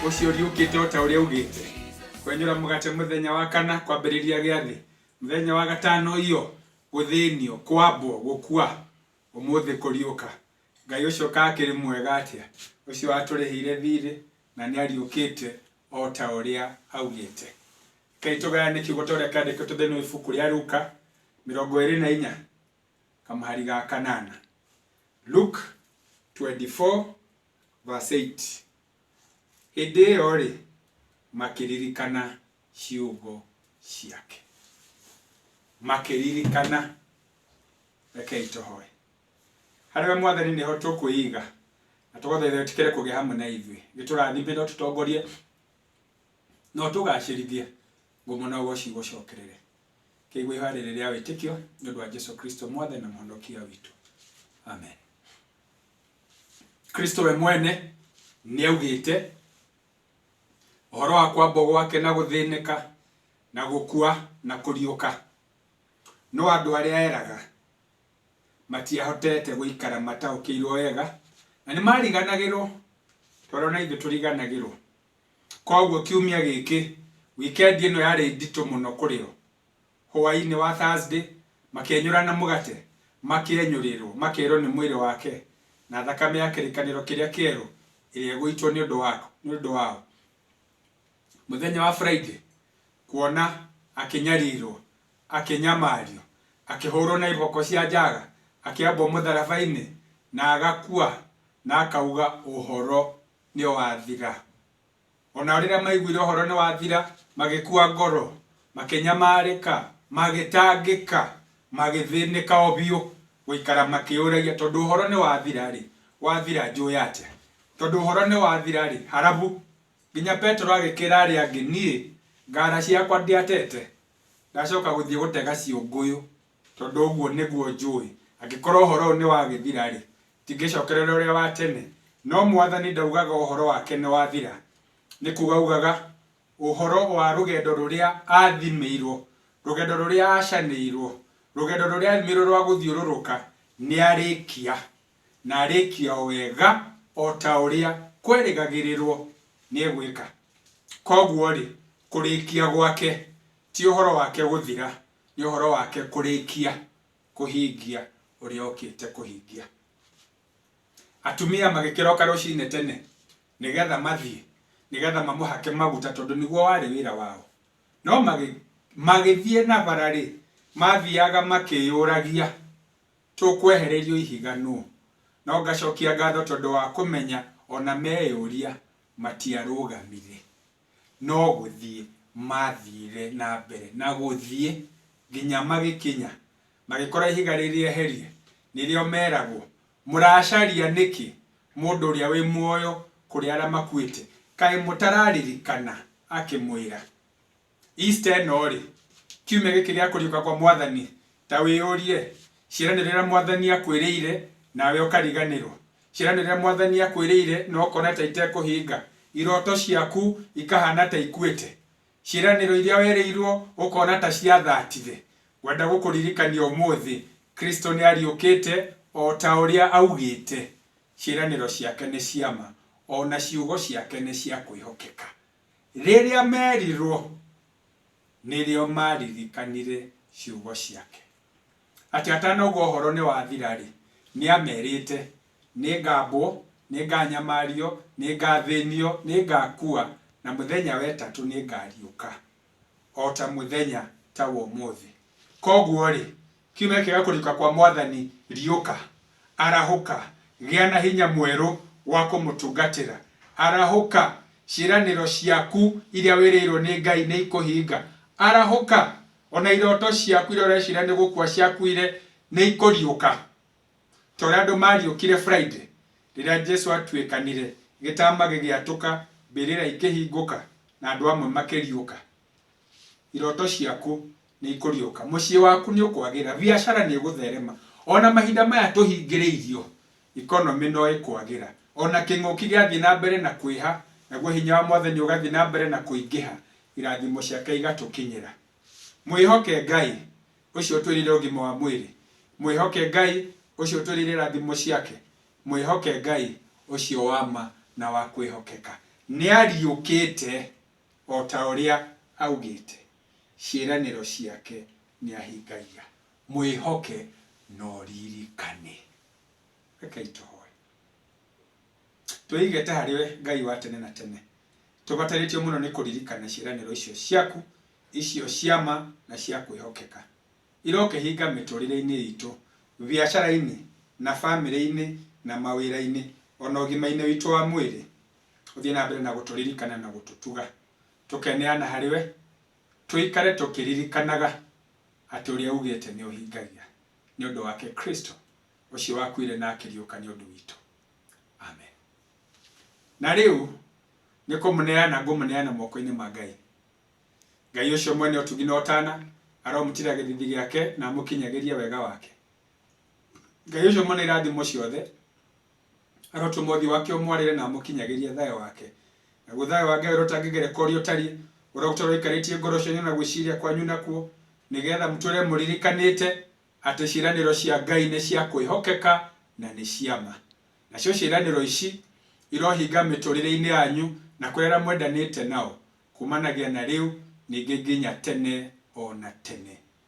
Ũcio ũriũkĩte o ta ũrĩa augĩte. Kwenyũra mũgate mũthenya wa kana kwambĩrĩria gĩathĩ. Mũthenya wa gatano iyo, gũthĩnio, kwambwo, gũkua, ũmũthĩ kũriũka. Ngai ũcio ka akĩrĩ mwega atĩa, ũcio watũrĩhĩire thiirĩ na nĩ ariũkĩte o ta ũrĩa augĩte. Rekei tũgayane kiugo ta ũrĩa kĩandĩkĩtwo thĩinĩ wa ibuku rĩa Luka mĩrongo ĩĩrĩ na inya kamũhari ga kanana. Luke 24 verse 8. Hĩndĩ ĩyo-rĩ, makĩririkana ciugo ciake. Makĩririkana. Rekei tũhoe. Harĩ we Mwathani nĩho tũkwĩiga, na tũgũthaitha wĩtĩkĩre kũgĩa hamwe na ithuĩ. Gĩtũrathime na ũtũtongorie, na ũtũgacĩrithie, ngumo na ũgoci igũcokerere. Kĩigue ihoya rĩrĩ rĩa wĩtĩkio, nĩ ũndũ wa Jesũ Kristo Mwathani na Mũhonokia witũ. Amen. kristo we mwene nĩ augĩte ũhoro wa kwambo gwake na gũthĩnĩka na gũkua na kũriũka no andũ arĩa eraga matiahotete gũikara mataũkĩirwo wega na nĩ mariganagĩrwo toro na ithuĩ tũriganagĩrwo koguo kiumia gĩkĩ wikendi ĩno yarĩ nditũ mũno kũrĩ o Hwaĩ-inĩ wa Thursday, makĩenyũrana mũgate, makĩenyũrĩrũo, makerũo nĩ mwĩrĩ wake na thakame ya kĩrĩkanĩro kĩrĩa kĩerũ ĩrĩa ĩgũitwo nĩ ũndũ waku, nĩ ũndũ wao. Mũthenya wa Friday, kuona, akĩnyarirũo, akĩnyamario, akĩhũrũo na iboko cia njaga, akĩambwo mũtharaba-inĩ, na agakua, na akauga, Ũhoro nĩ wathira. O nao rĩrĩa maiguire ũhoro nĩwathira, magĩkua ngoro, makĩnyamarĩka, magĩtangĩka, magĩthĩnĩka o biũ, gũikara makĩyũragia, tondũ ũhoro nĩwathira-rĩ, wathira njũĩ atĩa? Tondũ ũhoro nĩwathira-rĩ, harabu, nginya Petero agĩkĩra arĩa angĩ, niĩ ngara ciakwa ndiatete, ndacoka gũthiĩ gũtega ciũngũyũ. Tondũ ũguo nĩguo njũĩ, angĩkorwo ũhoro ũyũ nĩwagĩthira-rĩ, tingĩcokerera ũrĩa wa tene, no Mwathani ndaugaga ũhoro wake nĩwathira, nĩ kuuga augaga ũhoro wa rũgendo rũrĩa athimĩirwo, rũgendo rũrĩa acanĩirwo, rũgendo rũrĩa athimĩirwo rwa gũthiũrũrũka, nĩarĩkia, na arĩkia o wega o ta ũrĩa kwerĩgagĩrĩrwo nĩegwĩka. Koguo-rĩ, kũrĩkia gwake ti ũhoro wake gũthira, Nĩ ũhoro wake kũrĩkia kũhingia ũrĩa okĩte kũhingia. Atumia magĩkĩroka rũcinĩ tene nĩ getha mathiĩ, nĩ getha mamũhake maguta tondũ nĩguo warĩ wĩra wao. No magĩthiĩ na bara rĩ, mathiaga makĩyũragia, tũkwehererio ihiga nũ? No ngacokia ngatho tondũ wa kũmenya ona meyũria matiarũgamire. no gũthiĩ maathiire na mbere na gũthiĩ nginya magĩkinya magĩkora ihiga rĩrĩeherie, nĩrĩo meragwo, Mũracaria nĩkĩ mũndũ ũrĩa wĩ muoyo kũrĩ arĩa makuĩte? Kaĩ mũtararirikana akĩmwĩra, Easter ĩno-rĩ, kiumia gĩkĩ gĩa kũriũka kwa Mwathani, ta wĩyũrie, ciĩranĩro iria Mwathani aakwĩrĩire, nawe ũkariganĩrwo? Ciana rĩrĩa Mwathani akwĩrĩire na ũkona ta itekũhinga, irooto ciaku ikahana ta ikuĩte, ciĩranĩro iria werĩirwo ũkona ta ciathatire, ngwenda gũkũririkania ũmũthĩ, Kristo nĩ ariũkĩte o ta ũrĩa augĩte. Ciĩranĩro ciake nĩ cia ma, o na ciugo ciake nĩ cia kwĩhokeka. Rĩrĩa merirwo, nĩrĩo maaririkanire ciugo ciake. atĩ atanauga ũhoro nĩ wathira-rĩ, nĩ aamerĩte, Nĩ ngaambwo, nĩ ngaanyamario, nĩ ngaathĩnio, nĩ ngaakua, na mũthenya wa ĩtatũ nĩ ngaariũka, o ta mũthenya ta wa ũmũthĩ. Kwoguo-rĩ, kiumia kĩega kũriũka kwa Mwathani, riũka, arahũka, gĩa na hinya mwerũ wa kũmũtungatĩra, arahũka, ciĩranĩro ciaku iria wĩrĩirwo nĩ Ngai nĩ ikũhinga, arahũka, O na iroto ciaku iria ũreciria nĩ gũkua ciakuire nĩ ikũriũka, ta ũrĩa andũ maariũkire Friday rĩrĩa Jesu aatuĩkanire, gĩtaama gĩgĩatũka, mbĩrĩra ikĩhingũka, na andũ amwe makĩriũka. Iroto ciaku nĩ ikũriũka. Mũciĩ waku nĩ ũkwagĩra. Biacara nĩ ĩgũtherema. O na mahinda maya tũhingĩrĩirio, Economy no ĩkwagĩra. O na kĩng'ũki gĩathiĩ na mbere na kwĩha, naguo hinya wa Mwathani ũgathiĩ na mbere na kũingĩha, irathimo ciake igatũkinyĩra. Mwĩhoke Ngai, Ũcio ũtwĩrĩire ũgima wa mwĩrĩ. Mwĩhoke Ngai, Ũcio ũtwĩrĩire irathimo ciake. Mwĩhoke Ngai, Ũcio wa ma na wa kwĩhokeka. Nĩariũkĩte, o ta ũrĩa augĩte. Ciĩranĩro ciake nĩahingagia. Mwĩhoke na ũririkane. Rekei tũhoe. Twĩigĩte harĩ we, Ngai wa tene na tene. Tũbatarĩtio mũno nĩ kũririkana ciĩranĩro icio ciaku, icio cia ma na cia kwĩhokeka. Irokĩhinga mĩtũrĩre-inĩ itũ, biacara-inĩ, na bamĩrĩ-inĩ, na mawĩra-inĩ, o na ũgima-inĩ witũ wa mwĩrĩ. Ũthiĩ na mbere na gũtũririkana na gũtũtuga. Tũkeneana harĩ we, tũikare tũkĩririkanaga atĩ ũrĩa ugĩte nĩ ũhingagia. nĩ ũndũ wake Kristo, ũcio wakuire na akĩriũka nĩ ũndũ witũ. Amen. Na rĩu nĩ kũmũneana ngũmũneana moko-inĩ ma Ngai. Ngai ũcio mwene ũtugi na ũtana aromũtira gĩthithi gĩake na amũkinyagĩrie wega wake. Ngai ũcio mwene irathimo ciothe arotũma ũthiũ wake ũmwarĩre na amũkinyagĩrie thayũ wake. Naguo thayũ wa Ngai ũrĩa ũtangĩgerekwo ũrĩa ũtariĩ, ũrĩa ũgũtũũra ũikarĩtie ngoro cianyu na gwĩciria kwanyu nakuo, nĩgetha mũtũũre mũririkanĩte atĩ ciĩranĩro cia Ngai nĩ cia kwĩhokeka na nĩ cia ma. Nacio ciĩranĩro ici irohinga mĩtũũrĩre-inĩ yanyu na kũrĩ arĩa mwendanĩte nao, kumanagia na rĩu ningĩ nginya tene o na tene.